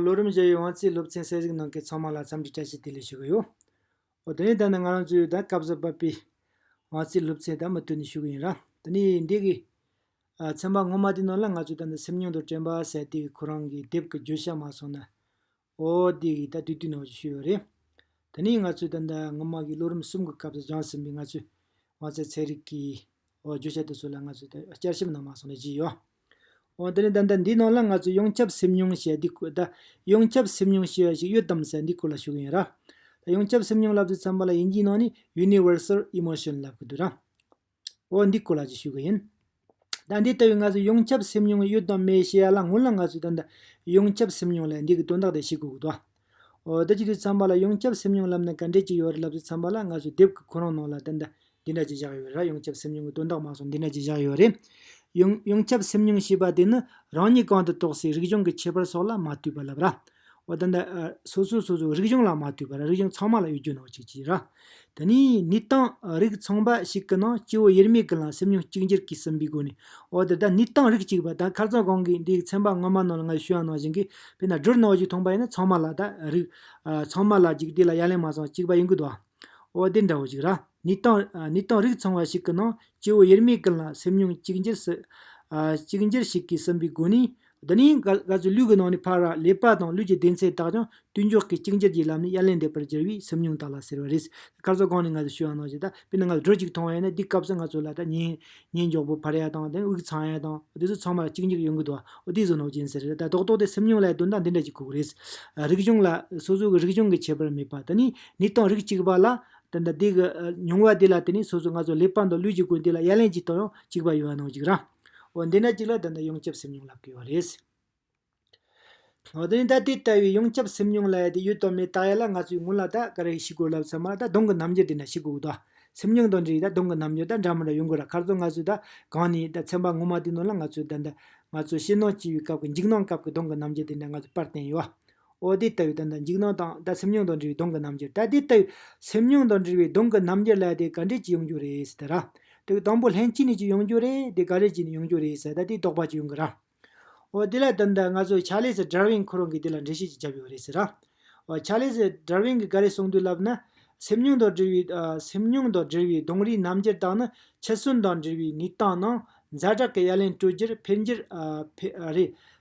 ལོ་རིམ་བཞི་བའི་དབང་རྩའི་སློབ་ཚན་གསལ་གཟིགས་གནང་མཁན་ཚང་མ་ལ་འཚམས་འདྲི་བཀྲ་ཤིས་བདེ་ལེགས་ཞུ་གི་ཡོད། དེ་ནས་ད་ནི་ང་རང་ཚོའི་ད་སྐབས་སུ་བབས་པའི་དབང་རྩའི་སློབ་ཚན་དག་མུ་མཐུད་ནས་ཞུ་གི་ཡིན། དེ་ནས་འདི་གའི་ཚན་པ་ངོ་མ་དེ་ནང་ལ་ང་ཚོས་ད་ནི་སེམས་མྱོང་དང་དྲན་པ་ཟད་དེ་གོ་རང་གི་དེབ་ཀྱི་རྒྱུ་ཞགས་མ་སོང་ན། ཨོ་དེ་གའི་ད་དུས་དུས་ནང་བཞིན་ཞུས་ཡོད་རེད། ད་ནི་ང་ཚོས་ད་ལྟ་སྔོན་དམག་གི་ལོ་རིམ་གསུམ་གྱི་སྐབས་སུ་སྦྱངས་ཟིན་པའི་ང་ཚོའི་དབང་རྩའི་ཚན་རིག་གི་བརྗོད་བྱ་དེ་ཚོ་ལ་ང་ཚོས་ད་བསྐྱར་ཞིབ་གནང་མ་སོང་ནས་བརྗེད་ཡོད། འོན་ཏེ་ད་ལྟ་འདིའི་ནང་ལ་ང་ཚོས་ཡོངས་ཁྱབ་སེམས་མྱོང་ཞེས་འདི་སྐོར་ད་ཡོངས་ཁྱབ་སེམས་མྱོང་ཞེས་པ་ཞིག་ཡོད་དམ་ཟེར་འདི་སྐོར་ལ་ཞུ་གི་ཡིན་ར། ད་ཡོངས་ཁྱབ་སེམས་མྱོང་ལབ་ཙེ་ཚན་པ་ལ་དབྱིན་ཇིའི་ནང་ནི Universal Emotion ལབ་གི་འདུག་ར། འོ་འདི་ཀོ་ལགས་ཀྱིས་ཞུས་གི་ཡིན། ད་འདི་ལྟ་བུའི་ང་ཚོ་ཡོངས་ཁྱབ་སེམས་མྱོང་ཡོད་དང་མེད་ཞེས་ཡ་ལང་ངུ་ལང་ང་ཚོས་ད་ལྟ་ཡོངས་ཁྱབ་སེམས་མྱོང་ལ་འདི་གི་དོན་དག་དེ་ཤེས་དགོས་ཀི་འདུག། འོ་ད་ཅི་དུས་འཚམས་པ་ལ་ཡོངས་ཁྱབ་སེམས་མྱོང་ལབ་ན་ག་འདྲས་ཅིག་ཡོད་རེད་ལབ་ཚོད་འཚམས་པ་ལ་ང་ཚོའི་དེབ་གི་ཁོ་རང་ནང་ལ་ད་ལྟ་འདི་འདྲ་ཅིག་བཞག་ཡོད་རེད་ལ་ཡོངས་ཁྱབ་སེམས་མྱོང་གི་དོན་དག་མ་སོགས་འདི་འདྲ་ཅིག་བཞག་ཡོད་རེད། ཡོངས་ཡོངས་ཁྱབ་སེམས་མྱོང་ཞེས་པ་དེ་ནི་རང་ཉིད་གང་དུ་གཏོགས་སའི་རིག་གཞུང་གི་ཁྱད་པར་སོགས་ལ་མ་ལྟོས་པར་ལབ་ར། འོ་ད་ལྟ། སོ་སོས་སོ་སོའི་རིག་གཞུང་ལ་མ་ལྟོས་པར་རིག་གཞུང་ཚང་མ་ལ་གཡོ་སྒྱུ་གནང་བ་ཅིག་བྱོས་ར། དེ་ནས་ནི་གཏང་རིགས་ཚང་པ་ཞིག་གི་ནང་སྐྱེ་བོ་དབྱེར་མེད་ཀྱི་ལ་སེམས་ཉོན་ཅིག་འགྱུར་གྱིས་ཟིན་པའི་སྒོ་ནས། འོ་དེ་ལྟར་ནི་གཏང་རིགས་གཅིག་པ་དང་ཁ་རྩང་གང་གིས་འདིའི་ཚན་པ་སྔོན་མ་ནང་ལ་ང་ཞུས་ཡང་ནང་བཞིན་གྱིས་དཔེར་ན་སྦྲུལ་ནག་བཞུགས་ཐོང་པ་ཡིན་ན་ཚང་མ་ལ་དག་རིགས། ཚང་མ་ལ་འཇིག་དེ་ལ་ཡ་ལན་མ་ཚང་གཅིག་པ་ཡིན་དགོས་དོ། འོ་དེ་འདྲ་བོ་ཞིག་ར་ནི་གཏང་ནི་གཏང་རིགས་ཚང་བ་ཞིག་གི་ནང་སྐྱེ་བོ་དབྱེར་མེད་ཀྱི་ལ་སེམས་ཉོན་ཅིག་འགྱུར་ཞིག་འགྱུར་ཞིག་གིས་ཟིན་པའི་སྒོ་ནས། འདི་ནི་ག་ཚོད་ལུས་ཀྱི་ནང་ནས་འཕར་བ་ལས་པ་དང་ལུས་ཀྱི་བདེ་ཚད་དག་ཀྱང་དུས་མགྱོགས་ཀྱིས་གཅིག་འགྱུར་གྱི་ལམ་ནས་དབྱར་ལས་འདས་པར་གྱུར་བས་སེམས་མྱོང་དག་ལ་ཟེར་བ་རེད། སྐར་ཚོགས་སྒང་ནས་ང་ཚོས་ཤོད་ཡག་གནང་བྱས། དཔེར་ན་ང་ཚོས་དྲོད་ཅིག་མཐོང་ཡ་ནི་དེའི་སྐབས་སུ་ང་ཚོ་ལ་ད་ཉིན་ཉིན་མགྱོགས་པོ་འཕར་ཡ་དང་དེ་དབུགས་འཚང་ཡ་དང་དེ་ཚོ་ཚང་མ་གཅིག་འགྱུར་ཡོང་གི་འདུག་ཨོ་དེ་ཟོ་ནོག་ཅན་ཟེར། ད་རྡོག་རྡོག་དེ་སེམས་མྱོང་ལ་དོན་དག་འདི་འདྲ་ཅིག་ཁུག་རེད། རིག་གཞུང་ལ། སོ་སོ་གི་རིག་གཞུང་གི་ཁྱད་པར་མེད་པ་དེ་ནི་ནི་དང་རིགས་གཅིག་པ་ལ། དེ་འདྲ་དེ་གི་མྱོང་བ་དེ་ལ་དེ་ནི་སོ་སོ་ང་ཚོ་ལས་པ་དང་ལུས་ཀྱི་ཀུན་དེ་ལ་དབྱར་ལེན་གྱི་དང་ཡང་གཅིག་པ་ཡོད་ཡག་གནང་གཅིག་རང། འོ་འདི་ན་གཅིག་ལ་ད་ལྟ་ཡོངས་ཁྱབ་སེམས་མྱོང་ལབ་དགོས་བ་རེད། འོ་དེ་ནི་ད་དེ་ལྟ་བུའི་ཡོངས་ཁྱབ་སེམས་མྱོང་ལ་ཡ་དེ་ཡོད་དོ་མེད་བརྟག་ཡ་ལ་ང་ཚོའི་ངོ་ལ་ད་ག་རེ་ཞིག་དགོས་ལབ་ཚར་མ་ད་གདོང་གི་རྣམ་འགྱུར་འདི་འདྲ་ཞིག་དགོས་ད། སེམས་མྱོང་དང་འདྲིས་ད་གདོང་གི་རྣམ་འགྱུར་ད་འདྲ་མ་འདྲ་ཡོང་དགོས་ར་ཁར་ཚོ་ང་ཚོས་ད་གང་ནས་ད་ཚན་པ་ངོ་མ་དེའི་ནང་ལ་ང་ཚོས་ད་ད་ང་ཚོ་ཕྱི་ནང་སྐྱིད་བའི་སྐབས་ཀྱི་འཇིགས་སྣང་སྐབས་ཀྱི་གདོང་གི་རྣམ་འགྱུར་དེ་འདྲ་ང་ཚོས་པར་བསྟན་ཡོད། འོ་དེ་ལྟ་བུའི་དོན་དང་འཇིགས་སྣང་དང་ལྟ་སེམས་མྱོང་དང་འབྲེལ་བའི་གདོང་གི་རྣམ་འགྱུར་ད་དེ་ལྟ་བུའི་སེམས་མྱོང་དང་འབྲེལ་བའི་གདོང་གི་རྣམ་འགྱུར་ལ་དེ་ག་འདྲེས་ཀྱི་ཡོང་རྒྱུ་རེད་ཟེར་ད་ར། དུག་དང་པོ་ལྷན་སྐྱེས་ནས་ཀྱི་ཡོང་རྒྱུ་རེད་དེ་ག་རེ་ཀྱི་ནས་ཡོང་རྒྱུ་རེད་ཟེར་ད་དེ་རྟོགས་པ་ཀྱི་ཡོང་གི་ར། འོ་དེ་ལ་དོན་དང་ང་ཚོ་ཆ་ལེ་སི་དྲར་བིན་ཁོ་རང་གིས་དེ་ལ་འགྲེལ་བཤད་ཅིག་བརྒྱབ་ཡོད་རེད་ཟེར་ར། འོ་ཆ་ལེ་སི་དྲར་བིན་གིས་ག་རེ་གསུངས་འདུག་ལབ་ན། སེམས་མྱོང་དང་འབྲེལ་བའི། སེམས་མྱོང་དང་འབྲེལ་བའི་གདོང་རིས་རྣམ་འགྱུར་དག་ནི་ཕྱི་སུན་དང་འབྲེལ་བའི་ནུས་སྟངས་ནང། ཛ་དྲག་གི་ཡ་ལན་སྤྲོད་རྒྱུར་ཕན་རྒྱུར། རེད།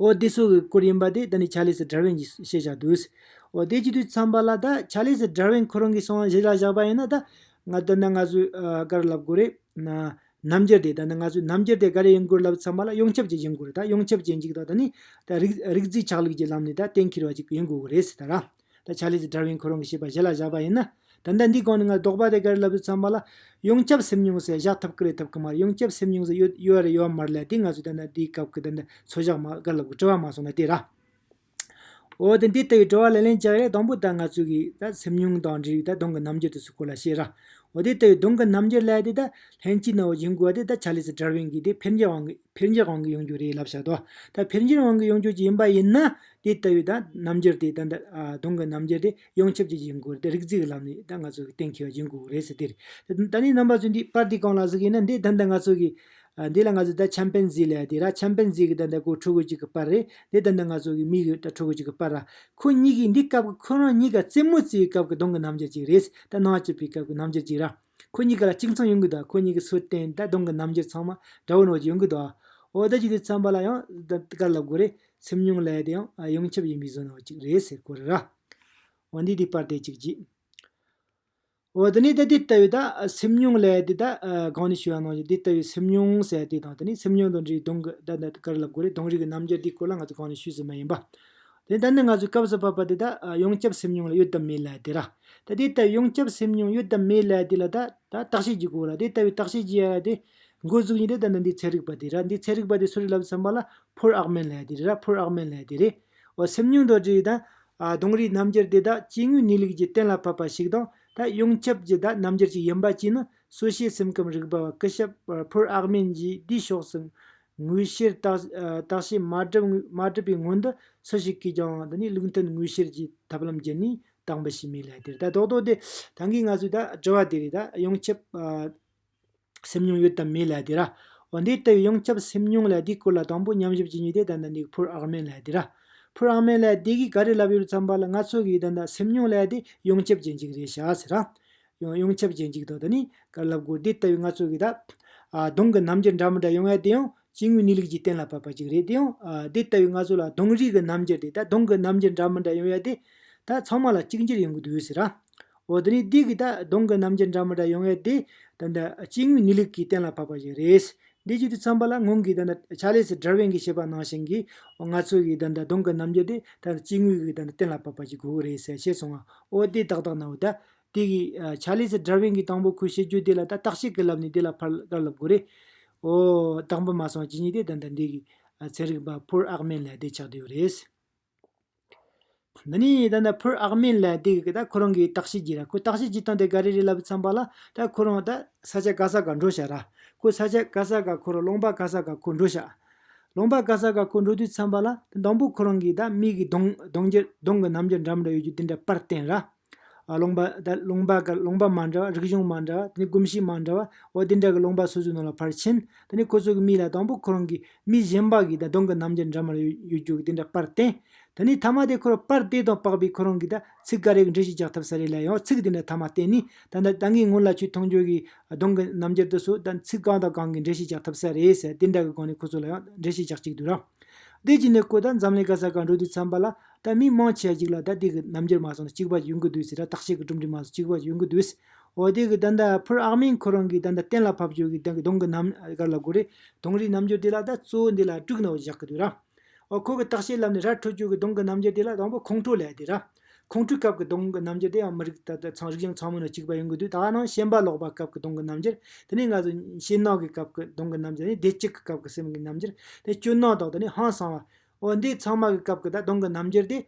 འོ་དེ་སྲོག་གི་སྐུར་ཡིན་པ་དེ་ད་ནི་ཆ་ལེས་སྒྲར་བན་གྱིས་ཤེས་བྱ་དུས། འོ་དེ་གཅིག་ཏུ་འཚམས་པ་ལ་ད་ཆ་ལེས་སྒྲར་བན་ཁོ་རང་གི་སྲོག་གཞི་ལ་བཞག་པ་ཡིན་ན་ད། ང་དོན་དང་ང་སུ་དགར་ལབ་དགོས་རེད། རྣམ་འགྱུར་དེ་ད་ནི་ང་སུ་རྣམ་འགྱུར་དེ་དགར་ཡིན་དགོས་ལབ་འཚམས་པ་ལ་ཡོངས་ཁྱབ་ཅིག་ཡིན་དགོས་རེད་ད་ཡོངས་ཁྱབ་ཅན་གཅིག་ད་ད་ནི། རིག་རྩིས་ཆགས་ལུགས་ཀྱི་ལམ་ནས་ད་གཏན་འཁེལ་བ་ཅིག་ཡིན་དགོས་གི་རེད་ཟེར་ད་ར། ད་ཆ་ལས་ཀྱི་དྲ་བའི་འཁོར་རང་གི་བྱས་པ་གཞི་ལ་བཞག་པ་ཡིན་ན། ད་ལྟ་འདི་གང་ནས་ང་ལྡོག་པ་དེ་གར་ལབ་ཏུ་འཚམ་པ་ལ། ཡོངས་ཁྱབ་སེམས་མྱོང་ཟེར་བཞག་ཐབས་ཀི་རེད་ཐབས་ཀི་མ་རེད་ཡོངས་ཁྱབ་སེམས་མྱོང་ཟེར་ཡོད་ཡོད་རེད་ཡོད་མ་རེད་ལ་དེ་ང་ཚོས་ད་ལྟ་འདིའི་སྐབས་ཀི་ད་ལྟ་འཚོལ་བཞག་མ་གར་ལབ་གི་དྲི་བ་མ་སོང་ན་དེ་ར། འོ་དེ་འདི་ལྟ་བུའི་དྲི་བ་ལ་ལན་བཅག་རེས་དང་པོ་ད་ང་ཚོས་ཀི་ད་སེམས་མྱོང་དང་འབྲེལ་བའི་ད་གདོང་གི་རྣམ་འགྱུར་དེ་སུ་སྐོར་ལ་བཤད་ར། འོ་དེ་ལྟ་བུའི་གདོང་གི་རྣམ་འགྱུར་ལས་དེ་ད་ལྷན་སྐྱིད་ནང་བ་བྱིང་དགོས་པ་དེ་ད་ཆ་ལས་ཀྱི་དྲ་བའི་འགི་དེ་འཕེལ་འགྱེད་དབང་གི་འཕེལ་འགྱེད་དབང་གི་ཡོང་རྒྱུ་རེད་ལབ་བཞག་ད་ད་འཕེལ་འགྱེད་དབང་གི་ཡོང་རྒྱུ་ཅི་ཡིན་པ་ཡིན་ན། དེ་ལྟ་བུའི་རྣམ་འགྱུར་དེ་ད་དུང་གི་རྣམ་འགྱུར་དེ་ཡོངས་ཁྱབ་ཀྱི་བྱེད་སྒོར་རིག་རྩིས་ཀྱི་ལམ་ནས་ང་ཚོ་གཏན་འཁེལ་བ་བྱེད་དགོས་རེད་ཟེར་དེར། ད་ནི་རྣམ་པ་ཚོས་འདིའི་པར་དེ་གང་ལ་གཟིགས་ཡིན་ན་འདི་ད་ལྟ་ང་ཚོ་གི། འདི་ལ་ང་ཚོས་ད་ཆམ་པན་ཛི་ལ་ཡ་དེ་ར་ཆམ་པན་ཛི་གི་ད་ལྟ་གོ་ཕྲུ་གུ་གཅིག་གི་པར་རེད་འདི་ད་ལྟ་ང་ཚོ་གི་མིག་གི་ད་ཕྲུ་གུ་གཅིག་གི་པར་ར། ཁོ་གཉིས་ཀྱིས་འདི་སྐབས་ཀྱི་ཁོ་རང་གཉིས་ཀ་རྩེད་མོ་རྩེ་བའི་སྐབས་ཀྱི་གདོང་གི་རྣམ་འགྱུར་ཅིག་རེད། ད་སྣང་སྐྱིད་པའི་སྐབས་ཀྱི་རྣམ་འགྱུར་ཅིག་ར། ཁོ་གཉིས་ཀ་ལ་གཅིག་མཚུངས་ཡོང་གི་འདུག་ཁོ་གཉིས་ཀྱི་ཚུལ་བསྟན་ད་དུང་གི་རྣམ་འགྱུར་ཚང་མ་དགྲ་བོའི་རོགས་ཀྱི་ཡོང་གི་འདུག་ཨོ་ད་ཅིག་དེ་ཚན་པ་ལ་ཡང་དཀར་ལབ་དགོས་རེད་སེམས་མྱོང་ལས་དེ་ཡང་ཡོངས་ཁྱབ་ཡིན་པའི་བཟོ་སྣང་ཅིག་རེད་ཟེར་གོ་རེ་ར། འོ་འདི་དེ་པར་དེ་ཅིག་བགྱིས། འོ་ད་ནི་ད་དེ་ལྟ་བུའི་ད་སེམས་མྱོང་ལས་དེ་ད་གང་ནས་ཤུ་བ་གནང་ཞིག་དེ་ལྟ་བུའི་སེམས་མྱོང་ཟེར་དེ་དང་ད་ནི་སེམས་མྱོང་དང་འདྲིས་གདོང་གི་ད་དཀར་ལབ་དགོས་རེད་གདོང་རིག་གི་རྣམ་འགྱུར་དེའི་སྐོར་ལ་ང་ཚོ་གང་ནས་ཤུས་ཟིན་མ་ཡིན་པ། དེ་ལྟར་ན་ང་ཚོས་སྐབས་སུ་བབ་པ་དེ་དག་ཡོངས་ཁྱབ་སེམས་མྱོང་ལ་ཡོད་དམ་མེད་ལ་དེ་ར། ད་དེ་ལྟ་བུའི་ཡོངས་ཁྱབ་སེམས་མྱོང་ཡོད་དམ་མེད་ལ་དེ་ལ་ད་བརྟག་དཔྱད་ཀྱི་གོ་ར་དེ་ལྟ་བུའི་བརྟག་དཔྱད་ཀྱི་ཡ་ར་དེ། འགོ་འཛུགས་ཉིད་དེ་ལྟ་ན་འདི་ཚན་རིག་པ་དེ་ར་འདི་ཚན་རིག་པ་དེ་སུ་རེད་ལབ་བསམ་པ་ལ་ཕོར་ཨག་མན་ལ་དེ་རེད་ར་ཕོར་ཨག་མན་ལ་དེ་རེད། འོ་སེམས་མྱོང་རྡོ་རྗེ་དང། གདོང་རིས་རྣམ་འགྱུར་དེ་དག་སྐྱེ་དངོས་གནས་ལུགས་ཀྱི་གཏན་ལ་ཕབ་པ་ཞིག་དང་ད་ཡོངས་ཁྱབ་ཀྱི་ད་རྣམ་འགྱུར་ཅིག་ཡིན་པ་གཅིག་ནི་གསོ་བྱེད་སེམས་ཁམས་རིག་པ་བ་སྐུ་ཞབས་ཕོར་ཨག་མན་གྱིས་འདིའི་ཕྱོགས་སུ་དངོས་བཤེར་བརྟག་བྱའི་མ་གྲུབ་པའི་སྔོན་དུ་སུ་ཞིག་གིས་ཀྱང་འདི་ནི་ལུགས་མཐུན་དངོས་བཤེར་གྱི་ཐབས་ལམ་བརྒྱུད་ནས་བཏང་པ་ཞིག་མིན་ལ་དེར་ལྟ་རྟོག་དོགས་དེ་ད་གིན་ང་ཚོས་དྲི་བ་དེ་རིགས་ཡོངས་ཁྱབ་སེམས་མྱོང་ཡོད་དམ་མེད་ལ་དེ་ར། འོན་ཏེ་ལྟ་བའི་ཡོངས་ཁྱབ་སེམས་མྱོང་ལ་དེའི་སྐོར་ལ་དང་པོ་ཉམས་ཞིབ་བྱེད་ནུས་དེ་ད་ལྟ་འདི་ཕུར་ཨག་མེན་ལ་དེ་ར། ཕུར་ཨག་མེན་ལ་དེ་གིས་ག་རེ་ལབ་ཡོད་རུང་བསམ་པ་ལ་ང་ཚོ་གིས་ད་ལྟ་སེམས་མྱོང་ལ་དེ་ཡོངས་ཁྱབ་བྱེད་འཇུག་རེ་བྱ་ཟེར་རམ། ཡང་ཡོངས་ཁྱབ་ཅན་གཅིག་དང་དུ་ནི་དཀར་ལྷ་བཀོད་དེ་ལྟ་བུའི་ལྔ་ཚོགས་ཀྱི་བདག། གདོང་གི་རྣམ་འགྱུར་འདྲ་མི་འདྲ་ཡོང་བས་དེ་ཡང་སྐྱེ་དངོས་གནས་ལུགས་ཀྱིས་གཏན་ལ་ཕབ་པ་ཅིག་རེད་དེ་ཡང་དེ་ལྟ་བུའི་ལྔ་ཚོགས་ལ་གདོང་རིས་ཀྱི་རྣམ་འགྱུར་དེ་དག་གདོང་གི་རྣམ་འགྱུར་འདྲ་མི་འདྲ་ཡོང་བས་དེ་དག་ཚང་མ་ལ་གཅིག་འགྱུར་ཡོང་གི་འདུག་ཟེར། འོ་དེ་ནི་དུས་ཀྱི་དག་གདོང་གི་རྣམ་འགྱུར་འདྲ་མི་འདྲ་ཡོང་བས་དེ་དག་སྐྱེ་དངོས་གནས་ལུགས་ཀྱིས་གཏན་ལ་ཕབ་པ་ཞིག་རེད། འདི་བརྗོད་དུ་འཚམ་པ་ལ་སྔོན་གྱི་ཆཱ་ལེ་སི་དྲར་ཝིན་གྱིས་བཤད་པ་ནང་བཞིན་གྱི་ལྔ་ཚོགས་ཀྱི་གདོང་གི་རྣམ་འགྱུར་དེ་དག་སྐྱེ་དངོས་ཀྱི་གཏན་ལ་ཕབ་པ་ཅིག་དགོས་ཀྱི་རེད་ཟེར་ཤེས་སོང་ཨོ་དེ་དག་དག་ན་འོ་ད། དེ་གི་ཆ་ལས་སུ Driving གི་དང་པོ་ཁོས་བཤད་རྒྱུ་དེ་ལ་ད་བརྟག་དཔྱད་ཀི་ལབ་ནས་དེ་ལ་ཕར་དགར་ལབ་དགོས་རེད། ཨོ། དང་པོ་མ་སོང་བ་ཇི་སྙེད་དེ་ད་ལྟ་འདི་གི་ཚན་རིག་པ Poor ཨག་མེན་ལའེ་ཏེ་ཆགས་བསྡད་ཡོད་རེད། འདི་ནི་ད་ལྟ Poor ཨག་མེན་ལའེ་ཏེ་གི་ད་ཁོ་རང་གི་བརྟག་དཔྱད་ཀྱི་ར་ཁོས་བརྟག་དཔྱད་ཅི་བཏང་དེ་ག་རེ་རེད་ལབ་བསམ་པ་ལ་ད་ཁོ་རང་ད་ས་ཆ་ག་ས་ག་འགྲོ་བྱ་ར། ཁོས་ས་ཆ་ག་ས་ག་ཁོ་རང་ལོང་པ་ག་ས་ག་ཁོ་འགྲོ་བྱ། ལོང་པ་ག་ས་ག་ཁོ་འགྲོ་དུས་བསམ་པ་ལ་ད་དང་པོ་ཁོ་རང་གི་ད་མིག་གི་གདོང་གདོང་རྒྱུ་གདོང་གི་རྣམ་རྒྱུ་འདྲ་མི་འདྲ་ཡོད་རྒྱུ་དེ་འདྲ་པར་བསྟན་ར། སློང་པ། སློང་པ་དགའ་སློང་པ་མ་འདྲ་བ་རིག་གཞུང་མ་འདྲ་བ་དེ་ནི་གོམས་གཤིས་མ་འདྲ་བ་འོ་དེ་འདྲ་གི་སློང་པ་སོ་སོའི་ནང་ལ་ཕར་ཕྱིན་དེ་ནི་ཁོ་ཚོ་གི་མིག་ལ་དང་པོ་ཁོ་རང་གི་མིག་གཞན་པ་གི་དང་གདོང་གི་རྣམ་འགྱུར་འདྲ་མར་ཡོད་རྒྱུ་གི་དེ་འདྲ་པར་བསྟན་དེ་ནི་ཐ་མ་དེ་ཁོ་རང་པར་བལྟས་དང་པགས་པས་ཁོ་རང་གི་དང་ཚིག་ག་རེག་འབྲི་ཞིག་རྒྱག་ཐབས་ས་རེ་ལ་ཡང་ཚིག་དེ་འདྲ་ཐ་མ་བསྟན་ནི་ད་ད་ནི་སྔོན་ལ་ཆུ་མཐོང་འགྱུར་གི་གདོང་གི་རྣམ་འགྱུར་དུ་སོ་དང་ཚིག་གང་དང་གང་གི་འབྲི་ཞིག་རྒྱག་ཐབས་ས་རེད་ཟེར་དེ་འདྲ་གི་སྒང་ནས་ཁོ་ཚོ་ལ་ཡང་འབྲི་ཞིག་རྒྱག་ཅིག་དུས་ར། བདེ་སྐྱིད་ནས་ཁོ་དང་འཛམ་གླིང་ག་ས་ག་འགྲོ་དུས་འཚམས་པ་ལ། ད་མི་མང་ཆེ་གཅིག་ལ་ད་དེ་གི་རྣམ་འགྱུར་མ་སོང་ན་གཅིག་པ་ཡོང་གི་འདུག་ཟེར་ད་བརྟག་དཔྱད་ཀྱི་གྲུབ་འབྲས་མ་སོང་གཅིག་པ་ཡོང་གི་འདུག་ཟེར། འོ་དེ་གི་ད་ད་ཕུར་ཨག་མིང་ཁོ་རང་གིས་ད་ད་གཏན་ལ་ཕབ་བཅོས་ཀྱིས་ད་གི་གདོང་གི་རྣམ་དཀར་ལ་གོ་རེ། གདོང་རིའི་རྣམ་འགྱུར་དེ་ལ་ད་གཙོ་བོ་འདི་ལ་དཀྲུག་ནའོ་བཞག་གི་འདུག་ར། འོ་ཁོ་གི་བརྟག་དཔྱད་ལམ་ནས་ར་འཕྲོད་བཅོས་ཀྱི་གདོང་གི་རྣམ་འགྱུར་དེ་ལ་དང་པོ་ཁོང་ཁྲོ་ལས་དེ་ར། ཁོང་ཁྲོའི་སྐབས་ཀྱི་གདོང་གི་རྣམ་འགྱུར་དེ་ཡང་མི་རིགས་ད་ད་ཚང་རིགས་གཞུང་ཚང་མ་ནང་གཅིག་པ་ཡོང་གི་འདུག་ད་ནང་ཤན་པ་ལོག་པ་སྐབས་ཀྱི་གདོང་གི་རྣམ་འགྱུར། དེ་ནས་ང་ཚོ་ཤེད་ནག་གི་སྐབས་ཀྱི་གདོང་གི་རྣམ་འགྱུར་ནི་བདེ་སྐྱིད་ཀྱི་སྐབས་ཀྱི་སེམས་ཀྱི་རྣམ་འགྱུར། དེ་ནས་སྐྱོ་སྣང་དག་དེ་ནི་ཧང་སང་བ། འོ་འདི་ཚང་མ་གི་སྐབས་ཀྱི་ད་དུང་གི་རྣམ་འགྱུར་དེ།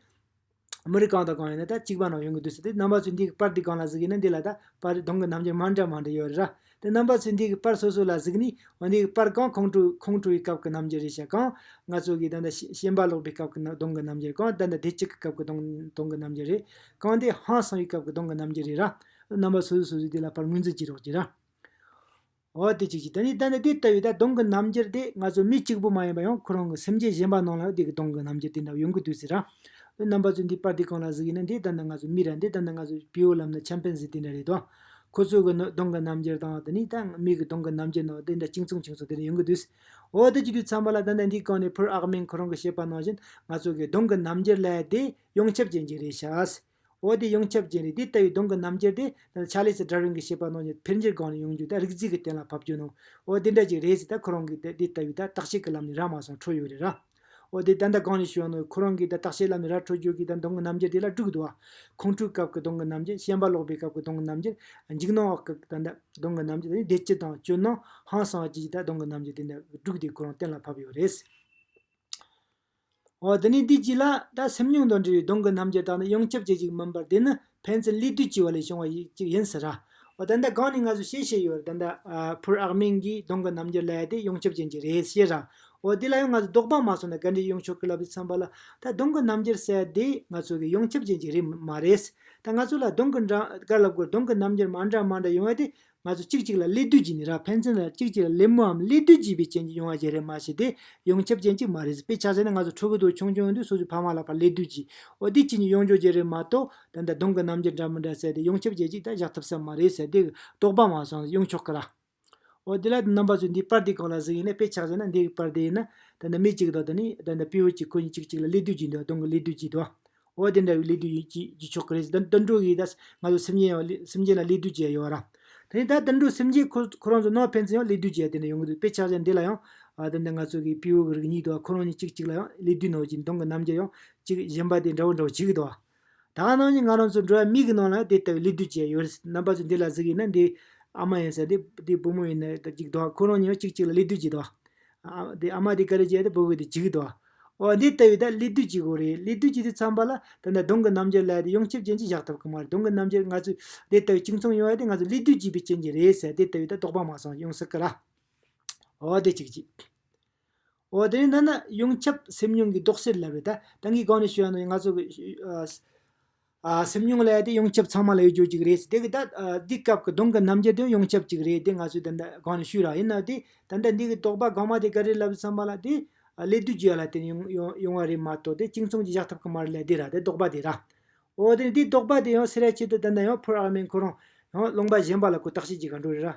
མི་རིགས་གང་དང་གང་ཡིན་ན་ད་གཅིག་པ་ནང་ཡོང་གི་འདུག་ཟེར་ཏེ་རྣམ་པ་ཚོས་འདིའི་པར་འདི་གང་ལ་གཟིགས་ཡིན་ན་འདི་ལ་ད་པར་དུང་གི་རྣམ་འགྱུར་མང་འདྲ་མང་འདྲ་ཡོད་རེད་ར། དེ་རྣམ་པ་ཚོས་འདིའི་པར་སོ་སོ་ལ་གཟིགས་ནས་འོ་འདི་གི་པར་གང་ཁོང་ཁྲོ་ཁོང་ཁྲོ་བའི་སྐབས་ཀྱི་རྣམ་འགྱུར་རེད་བྱ་གང། ང་ཚོ་གིས་ད་ལྟ་ཤེས་འབར་ཀློག་པའི་སྐབས་ཀྱི་དུང་གི་རྣམ་འགྱུར་གང་ད་ལྟ་བདེ་སྐྱིད་ཀྱི་སྐབས་ཀྱི་དུང་དུང་གི་རྣམ་འགྱུར་རེད། གང་དེ་ཧང་སངས་པའི་སྐབས་ཀྱི་དུང་གི་རྣམ་འགྱུར་རེད་ར། རྣམ་པ་སོ་སོས་སོ་སོའི་དེ་ལ་པར་ངོས་འཛིན་བགྱིད་རོགས་གྱིས་ར། འོ་དེ་ཅི་ཞིག་ད་ནི་ད་ནི་དེ་ལྟ་བུའི་ད་དུང་གི་རྣམ་འགྱུར་དེ་ང་ཚོ་མི་གཅིག་པུ་མ་ཡིན་པ་ཡང་ཁོ་རང་གི་སེམས་ཅན་གཞན་པ་རྣམས་ལའང་དེ་གི་དུང་གི་རྣམ་འགྱུར་དེ་འདྲ་བ་ཡོང་གི་འདུག་ཟེར་རང། དོན་རྣམ་པ་ཚོས་འདི་པར་དེ་གང་ལ་གཟིགས་ཡིན་ན་འདི་ལྟར་ན་ང་ཚོ་མི་ར་འདི་ལྟར་ན་ང་ཚོ་བེའུ་ལམ་ན་ཆམ་ཕན་ཟིག་དེ་འདྲ་རེད་དོ། ཁོ་ཚོའི་གི་ནི་དུང་གི་རྣམ་འགྱུར་དང་དེ་ནི་ད་མི་གི་དུང་གི་རྣམ་འགྱུར་རྣམས་དེ་འདྲ་གཅིག་མཚུངས་གཅིག་མཚུངས་དེ་འདྲ་ཡོང་གི་འདུག། འོ་དེ་ཅི་དུས་ཚང་མ་ལ་ད་ནི་འདི་གང་ནས་ཕུར་ཨག་མེན་ཁོ་རང་གི་བཤད་པ་ནང་བཞིན་ང་ཚོ་གི་དུང་གི་རྣམ་འགྱུར་ལས་དེ་ཡོངས་ཁྱབ་ཅན་གྱི་རེད་ཤག། འོ་དེ་ཡོངས་ཁྱབ་ཅན་རེད་དེ་ལྟ་བུའི་གདོང་གི་རྣམ་རྒྱལ་དེ། ཆ་ལེ་སི་དྲ་རིང་གི་བྱེད་པ་ནང་བཞིན་འཕེལ་འགྱུར་སྒང་ནས་ཡོང་རྒྱུ་དང་རིག་རྩིས་ཀྱི་གཏན་ལ་ཕབ་རྒྱུ་ནང། འོ་དེ་འདྲ་ཅིག་རེད་ཟེར་ད་ཁོ་རང་གིས་དེ་ལྟ་བུའི་དག་བྱེད་ཀྱི་ལམ་ནས་ར་མ་སོང་འཕྲོ་ཡོད་རེད་ར། འོ་དེ་ད་ལྟ་གང་ནས་བྱུང་ནའོ་ཁོ་རང་གིས་དེ་དག་བྱེད་ལམ་ནས་ར་འཕྲོ་རྒྱུ་གིས་ད་གདོང་གི་རྣམ་རྒྱལ་དེ་ལ་དཀྲུགས་འདུག་ཨ། ཁོང་ཁྲོའི་སྐབས་ཀྱི་གདོང་གི་རྣམ་རྒྱལ་ཤན་པ་ལོག་པའི་སྐབས་ཀྱི་གདོང་གི་རྣམ་རྒྱལ། འཇིགས་སྣང་འོག་གི་ད་ལྟ་གདོང་གི་རྣམ་རྒྱལ་དེ་བདེ་སྐྱིད་དང་སྐྱོ་སྣང་ཧང་སངས་བཅས་ཀྱི་ད་གདོང་གི་རྣམ་རྒྱལ་དེ་འདྲ་དཀྲུགས་དེ་ཁོ་རང་གཏན་ལ་ཕབ་ཡོད་རེད། འོ་དེ་ནས་དུས་གཅིག་ལ། ད་སེམས་མྱོང་དང་འབྲེལ་བའི་གདོང་གི་རྣམ་འགྱུར་དག་ནི་ཡོངས་ཁྱབ་ཅན་ཞིག་མིན་པར་དེ་ནི་ཕན་ཚུན་བསླུས་བཏུས་བྱས་བ་ལས་བྱུང་བ་ཞིག་ཅིག་ཡིན་ཟེར། འོ་ད་ལྟ་གང་ནས་ང་ཚོས་ཤེས་བྱས་ཡོད། ད་ལྟ། ཕུར་ཨག་མིང་གིས་གདོང་གི་རྣམ་འགྱུར་ལ་ཡ་དེ་ཡོངས་ཁྱབ་ཅན་ཅིག་རེད་ཤེས། འོ་དེ་ལ་ཡང་ང་ཚོས་ལྡོག་པ་མ་སོང་ན་ག་འདྲའི་ཡོང་ཆོག་གི་ལབ་ཅིག་བསམ་པ་ལ། ད་གདོང་གི་རྣམ་འགྱུར་ཟེར་དེ་ང་ཚོ་གི་ཡོངས་ཁྱབ་ཅན་ཅིག་རེད་མ་རེད། ད་ང་ཚོ་ལ་གདོང་གི་འདྲ། ག་ལ་དགོས་གདོང་གི་རྣམ་འགྱུར་མ་འདྲ་མ་འདྲ་ཡོང་བ་དེ་ང་ཚོ་གཅིག་གཅིག་ལ་སླེ་བསྡུ་བགྱིས་ནས་རག་ཕན་ཚུན་ལ་གཅིག་གཅིག་ལ་སླེབ་མོ་འམ་སླེ་བསྡུ་བགྱིས་པའི་རྐྱེན་གྱིས་ཡོང་བ་བརྒྱད་རེ་མ་བྱས་ཏེ་ཡོང་ཁྱབ་རྐྱེན་གཅིག་མ་རེད། དཔེ་ཆ་ཟེར་ན་ང་ཚོ་ཕྲུ་གུ་དུག་ཆུང་ཆུང་དུས་སོ་སོའི་ཕ་མ་ལ་ཕར་སླེ་བསྡུ་བགྱིས། འོ་དེའི་རྐྱེན་གྱིས་ཡོང་འཇོག་བརྒྱད་རེ་མ་གཏོགས། ད་ལྟ་གདོང་གི་རྣམ་འགྱུར་འདྲ་མི་འདྲ་བསལ་ཏེ་ཡོང་ཁྱབ་རྐྱེན་གཅིག་ད་བཞག་ཐུབ་ས་མ་རེད་ཟེར་དེ་དོགས་པ་མ་སོང་ཟེར་ཡོང་ཆོག་གི་ར། འོ་དེ་ལ་དེ་རྣམ་པ་ཚོས་འདིའི་པར་དེ་གང་ལ་གཟིགས་ཡིན་ན་དཔེ་ཆ་ཟེར་ན་འདི་གི་པར་དེ་ཡིན་ན། ད་ལྟ་མི་གཅིག་དང་ད་ནི་ད་ལྟ་བེའུ་གཅིག་ཁོ་གཉིས་གཅིག་གཅིག་ལ་སླེ་བསྡུ་བགྱིས་འདུག་གདོང་གི་སླེ་བསྡུ་བགྱིས་འདུག། འོ་དེ་འདྲ་བའི་གླེགས་བསྡུས་ཡིན་ཅེས་བགྱི་ཆོག་གི་རེད་ཟེར་ད་དོན་གྲུབ་ཡིས་ད་ང་ཚོ་སེམས་ཅན་ཡང་སེམས་ཅན་ལ་གླེགས་བསྡུས་བྱས་ཡོད་ར། དེ་ནས་ད་དོན་གྲུབ་སེམས་ཅན་ཁོ་ཁོ་རང་ཚོ་ནོར་ཕན་ཚུན་ཡང་གླེགས་བསྡུས་བྱས་དེ་འདྲ་ཡོང་གི་འདུག་དཔེ་ཆ་ཅན་འདི་ལ་ཡང། དེ་འདྲ་ང་ཚོ་གི་དཔེའུ་འགུལ་གྱི་ཉིད་དུ་ཁོ་རང་གཉིས་གཅིག་གཅིག་ལ་ཡང་གླེགས་བསྡུས་ནོར་གྱི་མདུང་གི་རྣམ་འགྱུར་ཡང་གཅིག་བཞེངས་པ་དེ་འདྲ་བོ་འདྲ་བོ་བྱེད་ཀྱི་འདུག་ཨ། ད་ང་རང་གཉིས་ང་རང་ཚོ་འགྲོ་བའི་མིག་གི་ནང་ལ་ཡང་དེ་ལྟ་བུའི་གླེགས་བསྡུས་བྱས་ཡོད་རེད་ཟེར་ན་པ་ཚོས་འདི་ལ་གཟིགས་ཡིན་ན་འདི་ཨ་མ་ཡིན་ཟེར་དེ་དེ་བུ་མོ་ཡིན་ན་ད་གཅིག་འདུག་ཨ་ཁོ་རང་གཉིས་ཡང་གཅིག་གཅིག་ལ་གླེགས་བསྡུས་བགྱིད་འདུག་ཨ། དེ་ཨ་མ་དེ་ག་རེ་བྱས་ཏེ་བུ་གུ་དེ་བྱེད་ཀྱི་འདུག་ཨ། འོ་འདི་ལྟ་བུའི་དག་ཀླད་བདུད་ཀྱི་སྒོ་རེད་ཀླད་བདུད་ཀྱི་དེ་ཚང་པ་ལ་དེ་འདྲ་གདོང་གི་རྣམ་འགྱུར་ལ་དེ་ཡོངས་ཁྱབ་ཅན་གྱི་བཞག་ཐུབ་ཀྱི་མ་རེད་གདོང་གི་རྣམ་འགྱུར་ང་ཚོས་དེ་ལྟ་བུའི་གཅིག་མཚུངས་ཡོང་བ་དེ་ང་ཚོ་ཀླད་བདུད་ཀྱི་བའི་རྐྱེན་གྱིས་རེད་ཟེར་དེ་ལྟ་བུའི་དག་དོགས་པ་མ་སོང་ཡོང་སྲིད་ཀྱི་ར། འོ་དེ་གཅིག་གཅིག། འོ་དེ་ནས་ན་ན་ཡོངས་ཁྱབ་སེམས་མྱོང་གི་ལྡོག་ཟེར་ལབ་རེད་ད། ད་ངས་གང་ནས་ཤོད་ཡང་ནོ་ཡང་ང་ཚོ་གི། སེམས་མྱོང་ལས་དེ་ཡོངས་ཁྱབ་ཚང་མ་ལ་ཡོད་རྒྱུ་གཅིག་རེད། དེ་གི་ད་འདི་སྐབས་ཀྱི་གདོང་གི་རྣམ་འགྱུར་དེ་ཡོངས་ཁྱབ་གཅིག་རེད་དེ་ང་ཚོས་ད་གང་ནས་ཤུས་རག་ཡིན་ནའི་དེ་ད་ལྟ་འདི་གི་དོགས་པ་གང་མ་དེ་ག་རེ་ལབ་བསམ་པ་ལ་དེ་ལས་བསྡུས་རྒྱུ་ཡ་ལ་དེ་ཡོང་བ་རེད་མ་གཏོགས་དེ་གཅིག་མཚུངས་ཀྱི་བཞག་ཐབས་ཀྱི་མ་རེད་ལ་དེ་ར་དེ་དོགས་པ་དེ་ར། འོ་དེ་ནས་དེ་དོགས་པ་དེ་ཡང་སེལ་ར་ཆེད་དུ་ད་ལྟ་ཡང་ཕོ་རག་མའི་འཁོར་རང་ཡང་སློང་པ་གཞན་པ་ལ་ཀུ་བརྟག་བྱེད་ཀྱི་ག་འགྲོ་རེད་ར།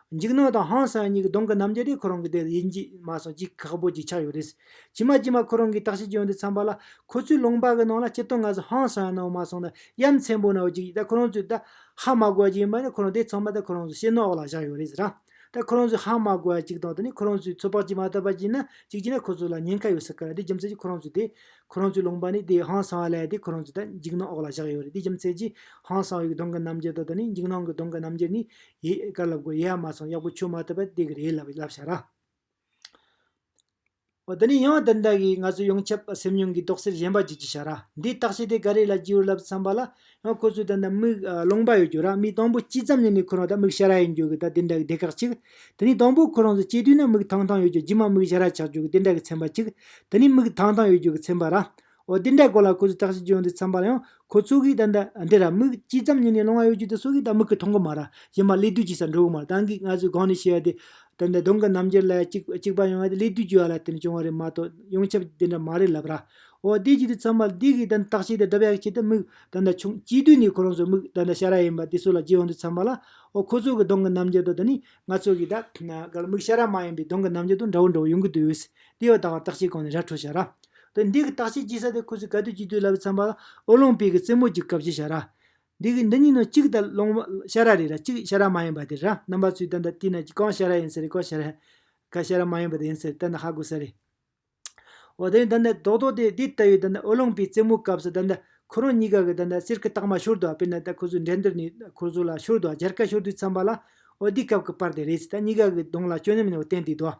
འཇིགས་སྣང་དང་ཧང་སངས་གཉིས་ཀྱི་གདོང་གི་རྣམ་རྒྱལ་དེ་ཁོ་རང་གི་དེར་ཡིད་འཇིགས་མ་སོང་ཅི་ཁག་པོ་ཅིག་ཆགས་ཡོད་རེད། ཇི་མ་ཇི་མ་ཁོ་རང་གིས་བརྟག་དཔྱད་བྱས་འདི་འཚམས་པ་ལ་ཁོ་ཚོའི་ལུང་པ་གི་ནང་ལ་སྤྱིར་བཏང་ང་ཚོ་ཧང་སངས་གནང་མ་སོང་ན་ཡ་མཚན་པོ་ན་བོ་ཅིག་ཡིན་ད་ཁོ་རང་ཚོས་ད་ཧ་མ་གོ་བ་ཅིག་ཡིན་པ་ནི་ཁོ་རང་དེ་ཚང་མ་ད་ཁོ་རང་ཚོ་ཤེས་ནོག་ལ་བཞག་ཡོད་རེད་ཟེར་རང་ད་ཁོ་རང་ཚོས་ཧ་མ་གོ་བ་ཅིག་དང་དེ་ནི་ཁོ་རང་ཚོས་ཚོད་དཔག་བྱེད་མ་ཐུབ་པ་ཅིག་ན་ཅིག་བྱས་ན་ཁོ་ཚོ་ལ་ཉེན་ཁ་ཡོད་ས་ཁ་རེད་དེ་རྒྱུ་མཚན་གྱིས་ཁོ་རང་ཚོས་དེ་ཁོ་རང་ཚོའི་ལུང་པ་ནི་དེ་ཧང་སངས་ལས་དེ་ཁོ་རང་ཚོས་ད་འཇིགས་སྣང་འོག་ལ་བཞག་ཡོད་རེད་དེ་རྒྱུ་མཚན་གྱིས་ཧང་སངས་ཡིག་གི་གདོང་གི་རྣམ་རྒྱལ་དང་དེ་ནི་འཇིགས་སྣང་གི་གདོང་གི་རྣམ་རྒྱལ་གཉིས་ཡིད་དཀར་ལབ་དགོས་ཡེ་ཨ་མ་སང་གཡག་པོ་ཆུ་མ་ཐུབ་པ་དེ་གི་རེད་ལབ་བྱ་ར། འོ་ད་ནི་ཡང་བདག་འདྲ་གི་ང་ཚོ་ཡོངས་ཁྱབ་སེམས་མྱོང་གི་རྡོག་སེལ་གཞན་པ་བགྱིད་ཀྱི་བྱ་ར་འདི་བརྟག་བྱེད་དེ་ག་རེ་ལ་བགྱིད་འོས་ལབ་བསམ་པ་ལ་ཡང་ཁོ་ཚོས་ད་ནི་མིག་ལོང་པ་ཡོད་རྒྱུ་ར་མིག་དང་པོ་གཅིག་ཙམ་ནས་ནི་ཁོ་རང་ད་མིག་ཞར་ར་ཡིན་རྒྱུ་གི་ད་དེ་འདྲ་གི་སྡེ་ཁག་ཅིག་ད་ནི་དང་པོ་ཁོ་རང་ཚོ་སྐྱེས་དུས་ན་མིག་ཐང་ཐང་ཡོད་རྒྱུ་རྗེས་མ་མིག་ཞར་ར་ཆགས་རྒྱུ་གི་དེ་འདྲ་གི་ཚན་པ་ཅིག་ད་ནི་མིག་ཐང་ཐང་ཡོད་རྒྱུ་གི་ཚན་པ་ར་འོ་དེ་འདྲའི་སྐོར་ལ་ཁོ་ཚོས་བརྟག་དཔྱད་བྱེད་ཡོང་དུས་འཚམས་པར་ཡང་ཁོ་ཚོ་གིས་ད་ལྟ་འདི་ར་མིག་གཅིག་ཙམ་ཉིད་ནས་སློང་བ་ཡོད་རྒྱུ་དེ་སོགས་ཀྱིས་ད་མིག་གི་མཐོང་གི་མ་ར་གཞན་པ་ཀླད་དུས་ཀྱི་སར་འགྲོ་གི་མ་ར་ད་འགིག་ང་ཚོས་གང་ནས་ཤེས་ཡ་དེ། ད་ནི་གདོང་གི་རྣམ་འགྱུར་ལ་ཅིག་ཅིག་པ་ཡོང་ཡ་དེ་ཀླད་དུས་ཀྱི་བར་ལ་བརྟེན་ནས་བྱུང་བ་རེད་མ་གཏོགས་ཡོངས་ཁྱབ་དེ་འདྲ་མ་རེད་ལབ་ར། འོ་དེ་བྱས་དུས་འཚམས་པར་དེ་གིས་ད་བརྟག་དཔྱད་དེ་བསྒྲུབ་ཡ་གི་ཆེད་དུ་མིག་ད་ད་ཆུང་སྐྱེས་དུས་ནས་ཁོ་རང་ཚོའི་མིག་ད་ད་ཤ་ར་ཡིན་པ་དེ་སོགས་ལ་བརྗེ་ཡོང་དུས་འཚམས་པ་ལ་འོ་ཁོ་ཚོ་གི་གདོང་གི་རྣམ་འགྱུར་དང་ད་ནི་ང་ཚོ་གི་ད་ག་ལ་མིག་ཤ་ར་མ་ཡིན་པའི་གདོང་གི་རྣམ་འགྱུར་དང་འདྲ་བོ་འདྲ་བོ་ཡོང་གི་དུས་ཡོད། དེ་ཡང་ད་བར་བརྟག་དཔྱད་གང་ནས་ར་འཕྲོད་བྱ་ར། ཏེ། འདི་གི་རྟགས་ཆད་ཅི་ས་དེ་ཁུ་ཚུར་ག་དུས་ཅི་དུས་ལ་བའི་ཚངས་པ། ཨོ་ལོང་པི་གི་རྩེ་མོ་གཅིག་གབ་ཅེས་བྱ་ར། འདི་གི་འདི་གཉིས་ནོ་གཅིག་དང་ལོང་བ་ཤ་ར་རེད་ར་གཅིག་ཤ་ར་མ་ཡིན་པ་དེ་ར་རྣམ་པ་ཚུལ་ལྟ་འདི་ལྟི་ན་གི་གང་ཤ་ར་ཡིན་ས་རེད་གང་ཤ་ར། ག་ཤ་ར་མ་ཡིན་པ་དེ་ཡིན་ས་རེད་ལྟ་ན་ཧ་གོ་ས་རེད། འོ་དེ་ལྟ་ན་རྡོག་རྡོག་དེ་འདི་ལྟ་བུའི་ལྟ་ན་ཨོ་ལོང་པི་རྩེ་མོ་གབ་ས་ལྟ་ན་ཁུ་རོང་གཉིས་ཀ་གི་ལྟ་ན་གསེར་གི་རྟགས་མ་ཤོར་དུ་བ་དཔེར་ན་ལྟ་ཁུ་ཚུར་འགྲན་བསྡུར་ནི་ཁུ་ཚུར་ལ་ཤོར་དུ་བ་སྦྱར་ཀ་ཤོར་དུས་ཚངས་པ་ལ། འོ་དེའི་སྐབས་ཀྱི་པར་དེ་རེད་ཅེས་ད་གཉིས་ཀ་གི་གདོང་ལ་སྐྱོན་ཉམས་ཡོང་བ་བསྟན་དུས་དོ།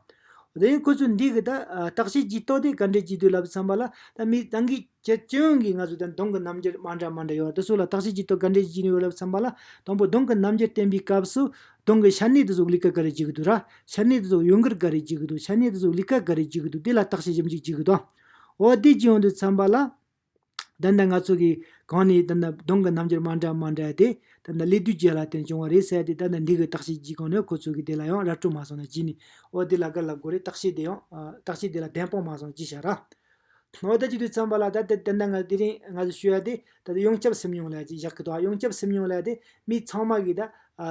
དེ་ཡང་ཁོ་ཚོས་འདི་གི་ད་བརྟག་དཔྱད་ཀྱིས་རྟོགས་ཏེ་ག་འདྲའི་སྐྱིད་སྡུག་ལབ་བསམ་པ་ལ་ད་མི་རང་གི་ཁྱད་སྐྱོན་གྱིས་ང་ཚོ་ད་གདོང་གི་རྣམ་འགྱུར་མ་འདྲ་མ་འདྲ་ཡོད་དེ་སུ་ལ་བརྟག་དཔྱད་ཀྱིས་རྟོགས་ག་འདྲའི་སྐྱིད་ཡོད་ལབ་བསམ་པ་ལ་དང་པོ་གདོང་གི་རྣམ་འགྱུར་བསྟན་པའི་སྐབས་སུ་གདོང་གི་ཤར་སྣེ་དེ་ཟུག་ལི་ཀ་ག་རེ་བྱེད་ཀྱི་འདུག་ར་ཤར་སྣེ་དེ་ཟུག་གཡོ་འགུལ་ག་རེ་བྱེད་ཀྱི་འདུག་ཤར་སྣེ་དེ་ཟུག་ལི་ཀ་ག་རེ་བྱེད་ཀྱི་འདུག་དེ་ལ་བརྟག་དཔྱད་ཞིབ་འཇུག་བྱེད་ཀྱི་དང། འོ་དེ་ཅི་ཡོང་དུས་བསམ་པ་ལ། དེ་འདྲ་ང་ཚོ་གིས་གང་ནས་དེ་འདྲ་གདོང་གི་རྣམ་འགྱུར་མ་འདྲ་མ་འདྲ་དེ་དེ་འདྲ་ཀླད་དུས་རྗེས་ལ་དེ་བྱུང་བ་རེད་ཟེར་ཏེ་དེ་འདྲ་འདི་གི་རྟགས་ཤེལ་གྱིས་གང་ནས་ཁོ་ཚོ་གིས་དེ་ལ་ཡང་ར་སྤྲོད་མ་སོང་ན་ཅི་ནས་འོ་དེ་ལ་དགར་ལབ་དགོས་རེད་རྟགས་ཤེལ་དེ་ཡང་རྟགས་ཤེལ་དེ་ལ་གདན་སྤངས་མ་སོང་ཅི་བྱ་ར། འོ་དེ་གཅིག་ཏུ་འཚམས་པ་ལ་ད་དེ་འདྲ་ང་དེ་རིང་ང་ཚོས་ཤོད་ཡ་དེ་ད་དེ་ཡོངས་ཁྱབ་སེམས་མྱོང་ལས་ཀྱིས་བཞག་གི་འདུག་ཡོངས་ཁྱབ་སེམས་མྱོང་ལས་དེ་མི་ཚང་མ་གིས་ད་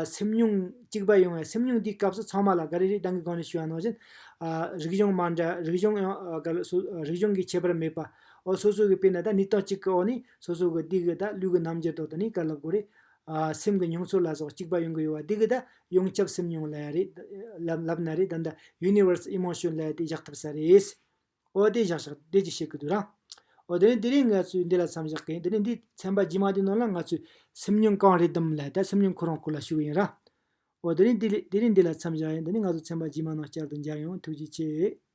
སེམས་མྱོང་གཅིག་པ་ཡོང་བས་སེམས་མྱོང་དེའི་སྐབས་སུ་ཚང་མ་ལ་དགའ་རེ་རེ་གདང་གི་གང་ནས་ཤོད་ཡ་ནང་བཞིན། རིག་གཞུང་མ་འདྲ་རིག་གཞུང་ཡང་དགར་སོ་རིག་གཞུང་གི་ཁྱད་པར་མེད་པ། འོ་སོ་སོ་གི་དཔེ་ན་ད་ནི་རྟགས་གཅིག་གི་འོག་ནས་སོ་སོ་གི་སྡིག་གི་ད་ལུས་ཀྱི་རྣམ་འགྱུར་དོག་ཏུ་ནི་ག་ལ་དགོས་རེད། སེམས་ཀྱི་མྱོང་ཚོར་ལ་སོགས་གཅིག་པ་ཡོང་གི་ཡོད་བ་སྡིག་གི་ད་ཡོངས་ཁྱབ་སེམས་མྱོང་ལ་རེད། ལབ་ན་རེད་ད་ད Universe Emotion ལ་དེ་བཞག་ཐུབ་ས་རེད། འོ་དེ་བཞག་བཞག་དེ་ཅི་བྱེད་ཀྱི་འདུག་རང། འོ་དེ་ནི་དེ་རིང་ང་ཚོས་འདི་ལ་མཚམས་བཞག་གིན་དེ་ནི་འདིའི་ཚན་པ་རྗེས་མ་དེའི་ནང་ལ་ང་ཚོས་སེམས་མྱོང་གང་རེད་དམ་ལ་ད་སེམས་མྱོང་ཁོ་རང་ཁོ་ལ་ཞུ་གི་ཡིན་རང། འོ་དེ་རིང་དེ་རིང་འདི་ལ་མཚམས་བཞག་ཡིན་དེ་ནི་ང་ཚོ་ཚན་པ་རྗེས་མ་ནང་བསྐྱར་དུ་མཇལ་ཡོང་ཐུགས་རྗེ་ཆེ།